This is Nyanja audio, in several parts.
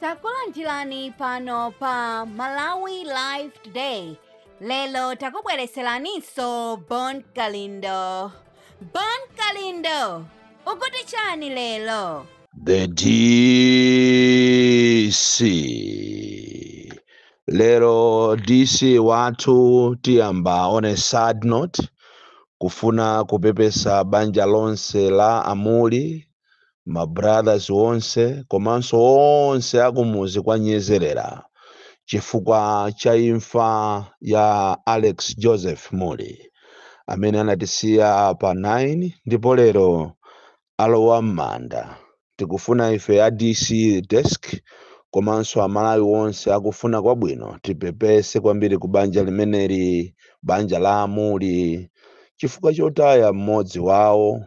takulandirani pano pa malawi live today lelo takubwereseraninso bon kalindo bon kalindo ukuti chani lelo The DC. Lero DC wathu tiyamba on a sad note kufuna kupepesa banja lonse la Amuli ma brothers onse komanso onse akumuzi kwa nyezerera chifukwa cha imfa ya alex joseph mulli amene anatisiya pa 9 ndipo lero alowa m'manda tikufuna ife a dc desk komanso amalawi onse akufuna kwabwino tipepese kwambiri ku banja limeneli banja la Amuli chifukwa chotaya mmodzi wawo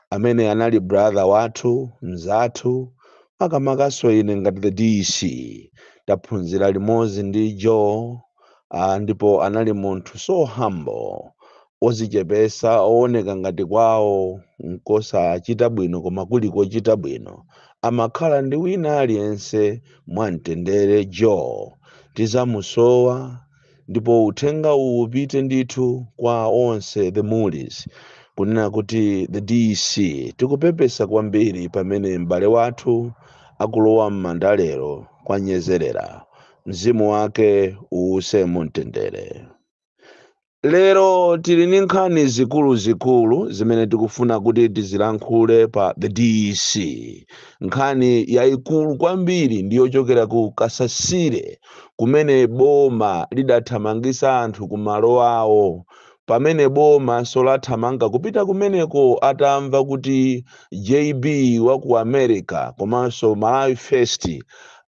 amene anali brother wathu mzathu makamakaso ine ngati the DC taphunzira limodzi ndi Joe ah, ndipo anali munthu so humble ozichepesa owoneka ngati kwawo nkosachita bwino koma kuli kochita bwino amakhala ndi wina aliyense mwamtendere Joe tizamusowa Ndipo uthenga uwu upite ndithu kwa onse the Mullis kunena kuti the DC tikupepesa kwambiri pamene m'bale wathu akulowa m'manda lero kwa Nyezerera. Mzimu wake uwuse mu mtendere. Lero tili ndi nkhani zikuluzikulu zimene tikufuna kuti tizilankhule pa the DC. Nkhani yaikulu kwambiri ndi yochokera ku Kasasire kumene boma lidathamangisa anthu ku malo awo pamene boma solathamanga kupita kumeneko atamva kuti JB wa ku America komanso Malawi First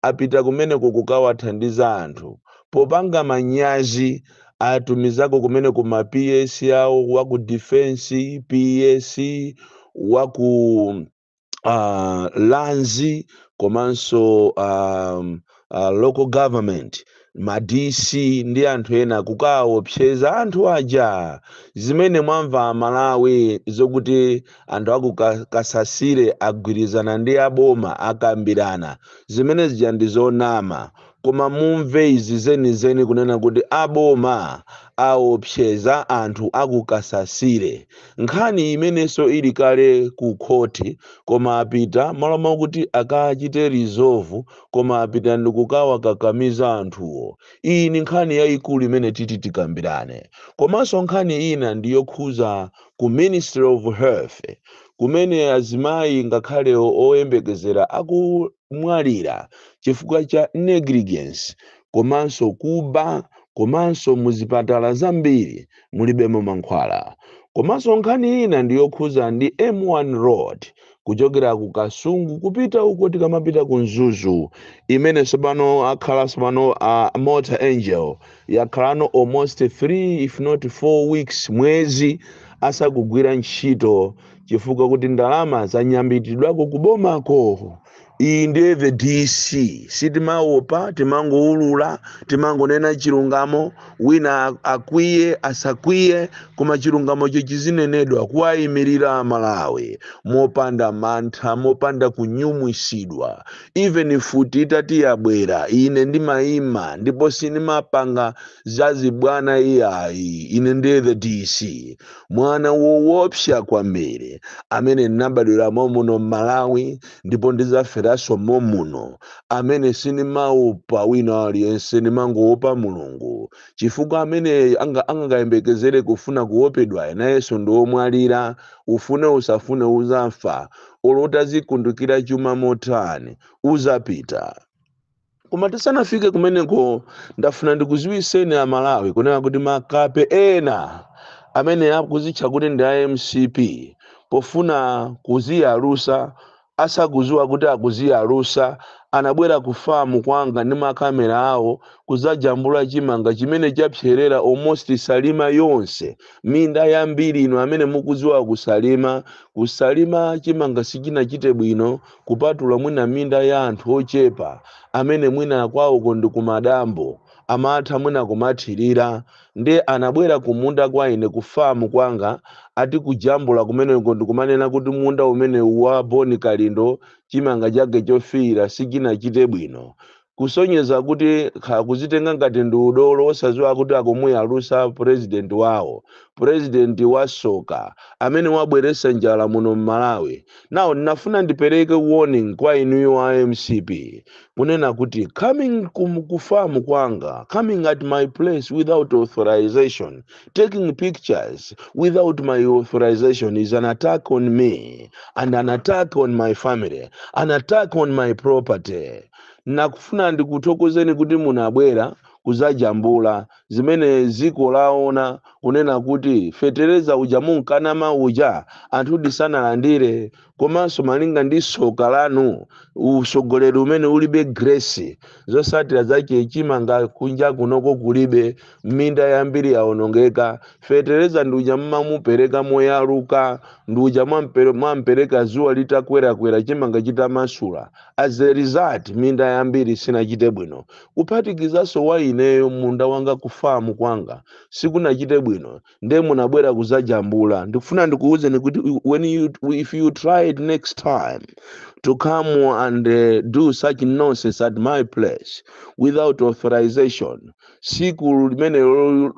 apita kumeneko kukawathandiza anthu popanga manyazi atumizako kumeneko ma PS awo wa ku defense PS wa ku uh, lands komanso um, uh, local government ma dc ndi anthu ena kukaopseza anthu aja zimene mwamva amalawi zokuti anthu aku Ka- kasasire agwirizana ndi aboma akambirana zimene zija ndi zonama Koma mumve izi zenizeni kunena kuti a boma aopseza anthu a ku Kasasire. Nkhani imenenso ili kale ku khoti koma apita m'malo mokuti akachite resolve koma apita ndikukawakakamiza anthuwo. Iyi ndi nkhani yaikulu imene titi tikambirane. Komanso nkhani ina ndi yokhuza ku Ministry of Health kumene azimayi ngakhale oyembekezera aku kumwalira chifukwa cha negligence komanso kuba komanso muzipatala zambiri mulibemo mankhwala. Komanso nkhani ina ndi yokhuza ndi M1 road kuchokera ku Kasungu kupita uko tikamapita ku Mzuzu imene tsopano akhala tsopano a Mota-Engil yakhalano almost 3 if not 4 weeks mwezi asakugwira ntchito chifukwa kuti ndalama zanyambitidwako ku bomako iyi ndiye the dc sitimaopa timangoulula timangonena chilungamo wina akwiye asakwiye koma chilungamocho chizinenedwa kuwayimirira amalawi mopanda mantha mopanda kunjenjemeretsedwa even futi itati yabwera ine ndimayima ndipo sindimapanga za zibwana iyayi ine ndiye the dc mwana woopsa kwambiri amene ndinabadwira mommuno m'malawi ndipo ndidzaferanso mommuno amene sindimaopa wina aliyense ndimangoopa mulungu chifukwa amene anga- angakayembekezere kufuna kuopedwayo nayenso ndi omwalira ufune usafune uzafa olo utazikundukira chuma motani uzapita koma tisanafike kumeneko ndafuna ndikuziwiseni a malawi kunena kuti makape ena amene akuzitcha kuti ndi a mcp pofuna kuziyalusa asakuziwa kuti akuziyalusa anabwera ku famu kwanga ndi makamera awo kuzajambula chimanga chimene chapserera almost salima yonse minda yambiri inu amene mukuziwa kusalima kusalima chimanga sichinachite bwino kupatula mwina minda ya anthu ochepa amene mwina kwawoko ndi kumadambo amatha mwina kumathirira nde anabwera kumunda kwa ine ku farm kwanga ati kujambula kumeneko ndikumanena kuti munda umenewu wa Boni Kalindo chimanga chake chofiira sichinachite bwino kusonyeza kuti kha kuzitenga ngati ndi udolo osadziwa kuti akumuyalusa president wawo president wasoka amene wabweretsa njala muno mmalawi now ndinafuna ndipereke warning kwa inuyo a mcp kunena kuti coming ku farm kwanga coming at my place without authorization taking pictures without my authorization is an attack on me and an attack on my family an attack on my property Nakufuna ndikuthokozeni kuti munabwera kuzajambula zimene ziko laona kunena kuti fetereza uja munkanama uja anthudi sanalandire komanso malinga ndi soka lanu usogoleri umene ulibe grace zosatira zache chimanga kunja kunoko kulibe minda yambiri yawonongeka fetereza nduja mmamupereka moyaluka nduja mwampere- mwampereka zuwa litakwerakwera chimanga chitamasula as a result minda yambiri sinachite bwino kuphatikizanso wa ineyo munda wanga kufamu kwanga sikunachite bwino nde munabwera kuzajambula ndikufuna ndikuwuzeni kuti when you, if you try it next time to come and uh, do such nonsense at my place without authorization siku limenelo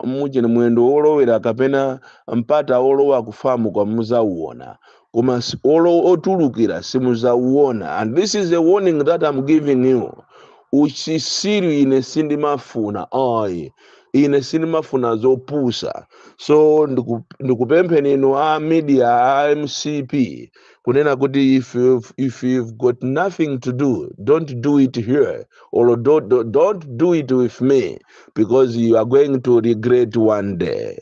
mujeni mwendo wolowera kapena mpata wolowa kufamu kwa muzauona koma s- olo otulukira simuzauona and this is a warning that I'm giving you uchisiru ine sindimafuna ayi ine sindimafuna zopusa so ndiku- ndikupempheni inu a media a mcp kunena kuti if you've, if you've got nothing to do don't do it here or don't, don't don't do it with me because you are going to regret one day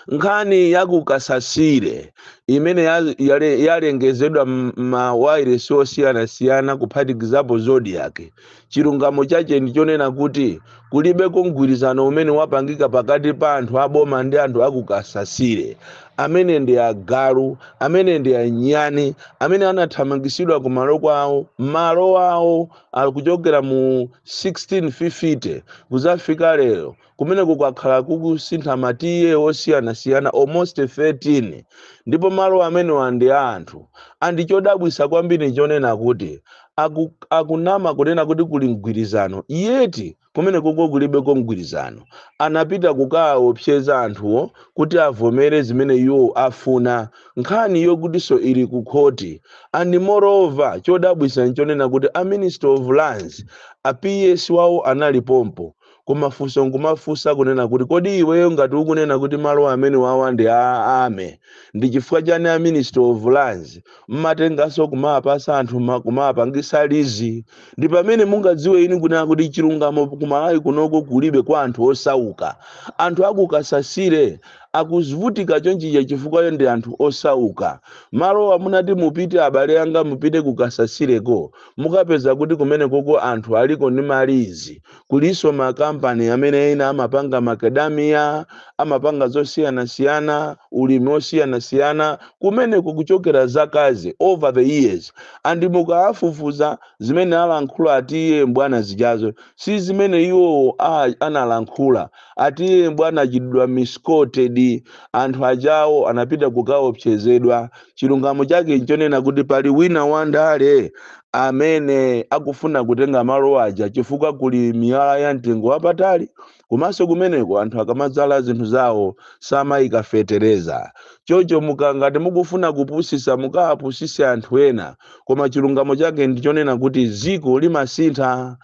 nkhani ya ku kasasire imene ya- yale- yalengezedwa m'mawairesi osiyanasiyana kuphatikizapo zodiak chilungamo chache ndi chonena kuti kulibeko mgwirizano umene wapangika pakati pa anthu aboma ndi anthu a ku kasasire amene ndi agalu amene ndi anyani amene anathamangisidwa ku malo kwawo malo awo akuchokera mu 1650 kuzafika lero kumeneko kwakhala kukusintha ma ta osiyanasiyana almost 13 ndipo malo amenewa ndi a anthu and chodabwisa kwambiri nchonena kuti aku, akunama kunena kuti kuli mgwirizano yeti kumenekoko kulibeko mgwirizano anapita kukaopseza anthuwo kuti avomere zimene iwo afuna nkhani yokutinso ili ku khoti and moreover chodabwisa nchonena kuti a minister of lands a ps wawo anali pompo koma funso nkumafunsa kunena kuti kodi iweyo ngati ukunena kuti malo amenewawa ndi a army ndi chifukwa chani a ministry of lands mmatenganso kumawapasa anthu ma- kumawapangisa lizi ndi pamene mungadziwe inu kunena kuti chilungamo kumalawi kunoko kulibe kwa anthu osauka anthu akukasasire akuvutika chonchija chifukwa ndi anthu osauka malowa munati mupite abale anga mupite kukasasireko mukapeza kuti kumenekoko anthu aliko ndi malizi kulinso makampani amene ena amapanga macadamia amapanga zosiyanasiyana ulimi osiyanasiyana kumeneko kuchokera zakazi over the years and mukawafufuza zimene alankhula a ta mbwana zijazo si zimene iwowo a- analankhula a ta mbwana anachitidwa misquoted anthu ajawo anapita kukaopsezedwa chilungamo chake nchonena kuti pali wina wandale amene akufuna kutenga malo aja chifukwa kuli miyala ya mtengo wapatali komanso kumeneko anthu akamadzala zinthu zawo samayika fetereza chocho mukangati mukufuna kupusisa mukawapusise anthu ena koma chilungamo chake ndichonena kuti ziko limasintha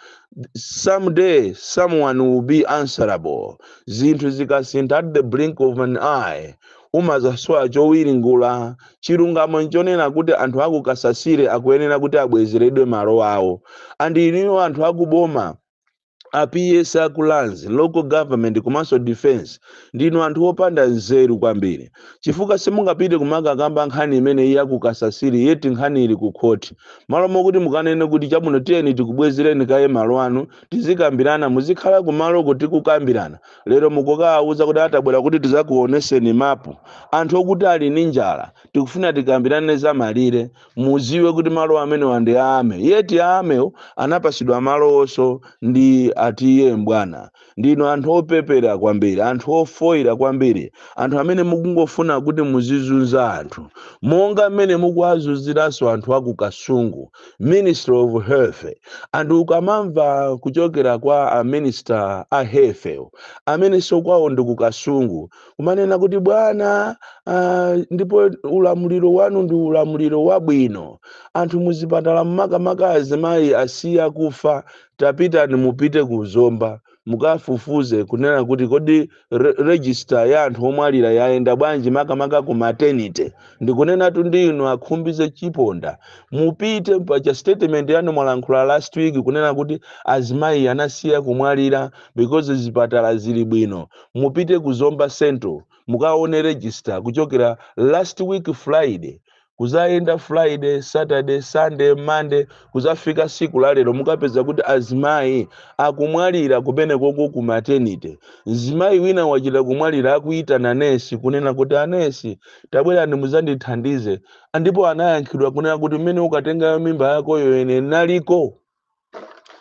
someday someone will be answerable zinthu zikasintha at the blink of an eye umazasowa chowiringula chilungamo nchonena kuti anthu aku kasasire akuyenera kuti abwezeredwe malo awo and inuyo anthu akuboma a PS a ku lands local government komanso defense ndinu anthu opanda nzeru kwambiri chifukwa simungapite kumakakamba nkhani imene iya ku kasasiri yeti nkhani ili ku khoti malo mokuti mukanene kuti chabwino tiyeni tikubwezereni kaye malo anu tizikambirana muzikhala kumaloko tikukambirana lero mukukawauza kuti atabwera kuti tizakuoneseni mapu anthu okuti ali ndi njala tikufuna tikambirane za malire muziwe kuti malo amenewa ndi a army yeti a army wo anapasidwa malowoso ndi a TA mbwana ndinu anthu opepera kwambiri anthu ofoyira kwambiri anthu amene mukungofuna kuti muzizunza anthu monga mmene mukuwazunziranso anthu aku kasungu ministry of health and ukamamva kuchokera kwa a minister a health amenenso kwawo ndi kukasungu kumanena kuti bwana ah, ndipo ulamuliro wanu ndi ulamuliro wabwino anthu muzipatala mmakamaka azimayi asiya kufa tapitani mupite ku zomba mukafufuze kunena kuti kodi register ya anthu omwalira yayenda bwanji makamaka ku maternity ndikunenatu ndi inu akhumbize chiponda mupite paja statement yanu mwalankhula last week kunena kuti azimayi anasiya kumwalira because zipatala zili bwino mupite ku zomba central mukaone register kuchokera last week friday kuzayenda friday saturday sunday monday kuzafika siku la lero mukapeza kuti azimayi akumwalira kumenekoko ku maternity mzimayi wina wachita kumwalira akuyitana nesi kunena kuti anesi tabwerani muzandithandize ndipo anayankhidwa kunena kuti mmene ukatengayo mimba yakoyo ine naliko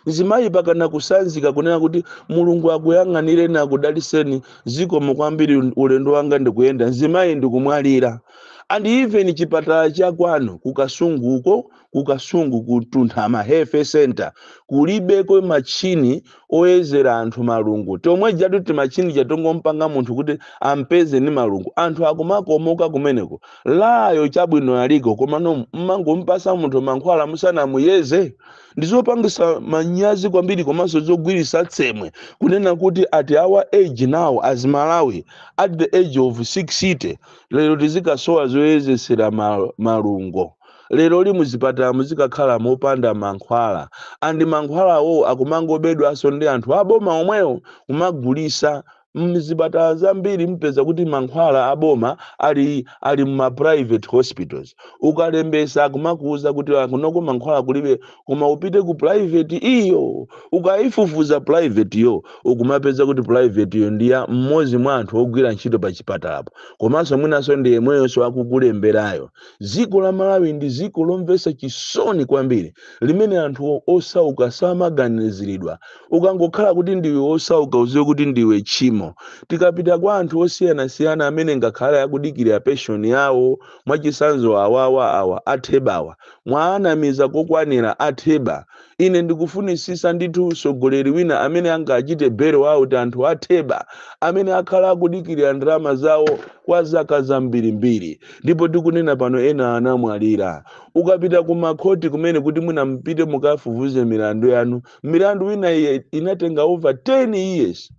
mzimayi mpaka anakutsanzika kunena kuti mulungu akuyang'anireni akudaliseni zikomo kwambiri ulendo wanga ndikuyenda mzimayi ndikumwalira and even chipatala cha kwanu kukasunguko kukasungu kutuntha ma health center kulibeko machini oyezera anthu malungo chomwechotu timachini tatongompanga munthu kuti ampeze ni malungo anthu akumakomoka kumeneko LA yo chabwino aliko komano mmangompasa munthu mankhwala musanamuyeze ndizopangisa manyazi kwambiri komanso zogwirisa tsemwe kunena kuti at our age now as malawi at the age of 60 lero tizikasowa zoyezesera ma- malungo leroli muzipatala muzikakhala mopanda mankhwala and mankhwalawo akumangobedwanso ndi anthu aboma omwewo kumagulisa mzipatala zambiri mupeza kuti mankhwala aboma ali ali mma private hospitals ukalembesa akumakuuza kuti "Ah, kunoko mankhwala kulibe koma upite ku private iyo ukayifufuza privateyo ukumapeza kuti privateyo ndiya mmodzi mwa anthu ogwira ntchito pa chipatalapo komanso mwinanso ndi yemweyonso akukulemberayo Dziko la Malawi ndi dziko lomvetsa chisoni kwambiri limene anthu osauka samaganiziridwa. Ukangokhala kuti ndiwe wosauka udziwe kuti ndiwe tchimo. Tikapita kwa anthu osiyanasiyana amene ngakhale akudikirira pension yawo, mwachitsanzo awawa awa a Thebawa, mwaanamiza kokwanira a Theba. Ine ndikufunitsitsa ndithu utsogoleri wina amene angachite bail out anthu a theba amene akhala akudikirira ndalama zawo kwa zaka zambirimbiri ndipo tikunena pano ena anamwalira. Ukapita ku makhoti kumene kuti mwina mupite mukafufuze milandu yanu, milandu ina inatenga over 10 years.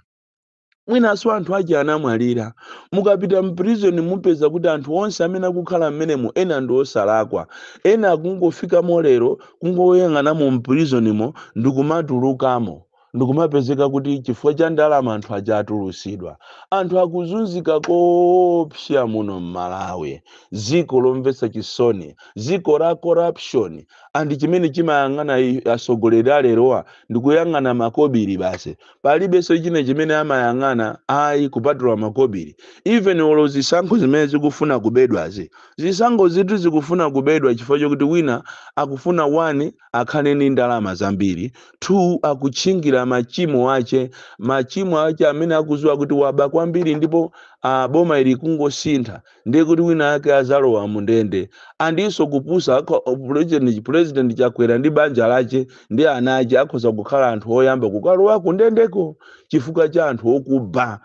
mwinanso anthu aja anamwalira mukapita mprison mupeza kuti anthu onse amene akukhala mmenemo ena ndi osalakwa ena akungofikamo lero kungoyang'anamo mprisonimo ndikumatulukamo ndikumapezeka kuti chifukwa cha ndalama anthu aja atulusidwa anthu akuzunzika koopsa muno mmalawi dziko lomvetsa chisoni dziko la corruption and chimene chimayang'ana i- atsogoleri alerowa ndikuyang'ana makobiri basi palibenso china chimene amayang'ana ayi kupatula makobiri even olo zisankho zimene zikufuna kubedwazi zisankhozitu zikufuna kubedwa chifukwa chokuti wina akufuna one akhale ndi ndalama zambiri two akutchingira machimo ache machimo ache amene akuziwa kuti waba kwambiri ndipo ah, boma ili kungosintha ndiye kuti winawake azalowa mundende andinso kupusa akho president president chakwera ndi banja lache ndi ana ache akhoza kukhala anthu oyamba kukalowa kundendeko chifukwa cha anthu okuba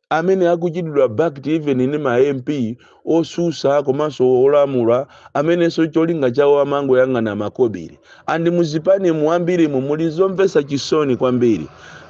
amene akuchitidwa backed even ndi ma mp osusa komanso olamula amenenso cholinga chawo amangoyang'ana makobiri and muzipani mwambirimu muli zomvesa chisoni kwambiri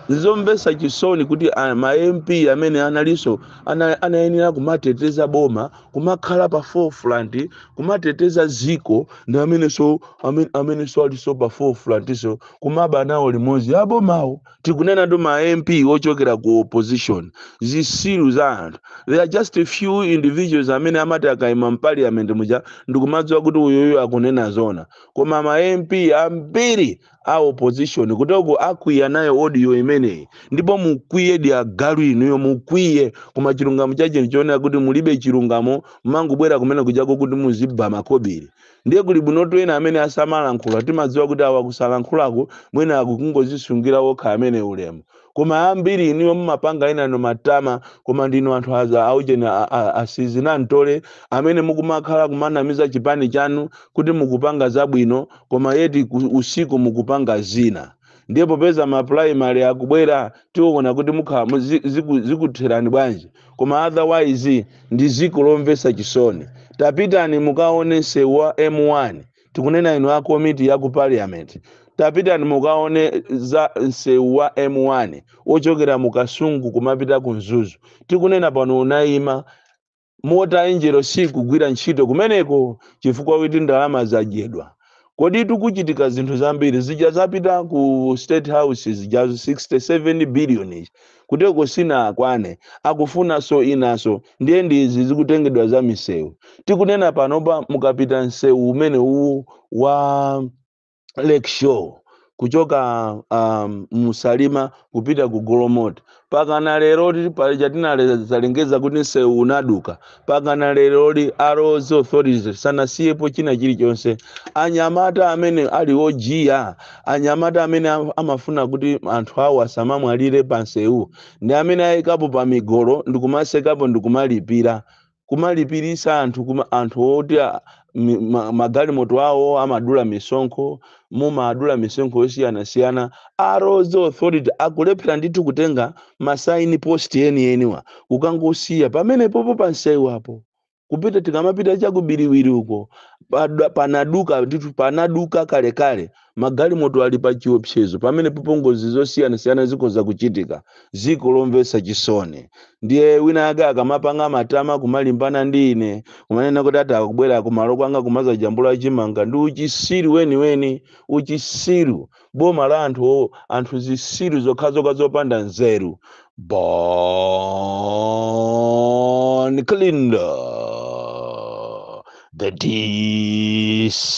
nzomvesa chisoni kuti a- ma mp amene analinso ana, anayenera kumateteza boma kumakhala pa forefront kumateteza ziko ndi amenenso amene- amenenso alinso pa forefrontso kumaba nawo limodzi abomawo tikunenatu ma mp ochokera ku opposition zisilu za anthu there are just a few individuals amene amati akaima mparliament muja ndikumadziwa kuti uyuyu akunena zona koma ma mp ambiri a opposition kutoku akwiya nayo audio imeneyi ndipo mukwiyedi agalu inuyo mukwiye koma chilungamo chake nchoona kuti mulibe chilungamo mangobwera kumene kujako kuti muziba makobiri ndiye kuli bwinotu ena amene asamalankhula timadziwa kuti awa kusalankhulaku mwina akukungozisungira okha amene ulemu koma ambiri inuyo mumapanga enano matama koma ndinu anthu aza aujeni a- a- asizinamtole amene mukumakhala kumanamiza chipani chanu kuti mukupanga zabwino koma yeti ku- usiku mukupanga zina ndiye popeza ma primary akubwera tiona kuti mukhala mu- zi- ziku- zikutherani bwanji koma otherwise ndi ziko lomvesa chisoni tapitani mukaone msewu wa m1 tikunena inu a komiti ya ku parliament tapitani mukaone za msewu wa m1 wochokera mu kasungu kumapita ku mzuzu tikunena pano unayima Mota-Engil sikugwira ntchito kumeneko chifukwa choti ndalama zadyedwa kodi tikuchitika zinthu zambiri zija zapita ku state house zijazo 67 billion ija Kuteko sinakwane akufunaso zinaso ndiye ndi izi zikutengedwa za misewu tikunena panopa mukapita msewu umene uwu wa Lakeshore kuchoka um, mu Salima kupita ku golomoti pakana leroli paja tinazalengeza kuti msewu unaduka pakana leroli a roads authority sanasiyepo china chilichonse anyamata amene ali ojiya anyamata amene am- amafuna kuti anthu awo asamamwalire pansewu ndi amene ayikapo timigolo ndikumatsekapo ndikumalipira kumalipirisa anthu kuma anthu oti a- mi- ma- magalimoto awo amadula misonkho mumadula misonkho yosiyanasiyana a roads authority akulephera ndithu kutenga ma sign post enieniwa kukangosiya pamenepopo pansewupo kupita tikamapita cha ku Biriwiri uko pada- panaduka ndithu panaduka kalekale Magalimoto ali pachiwopsezo. Pamenepopo ngozi zosiyanasiyana zikhoza kuchitika. Dziko lomvetsa chisoni. Ndiye winawake akamapanga matama kumalimbana ndi ine, kumanena kuti ata akubwera kumalo kwanga kumadzajambula chimanga ndi uchitsiru weniweni, uchitsiru, boma la anthu o, anthu zitsiru zokhazokha zopanda nzeru. Bon Kalindo, the DC.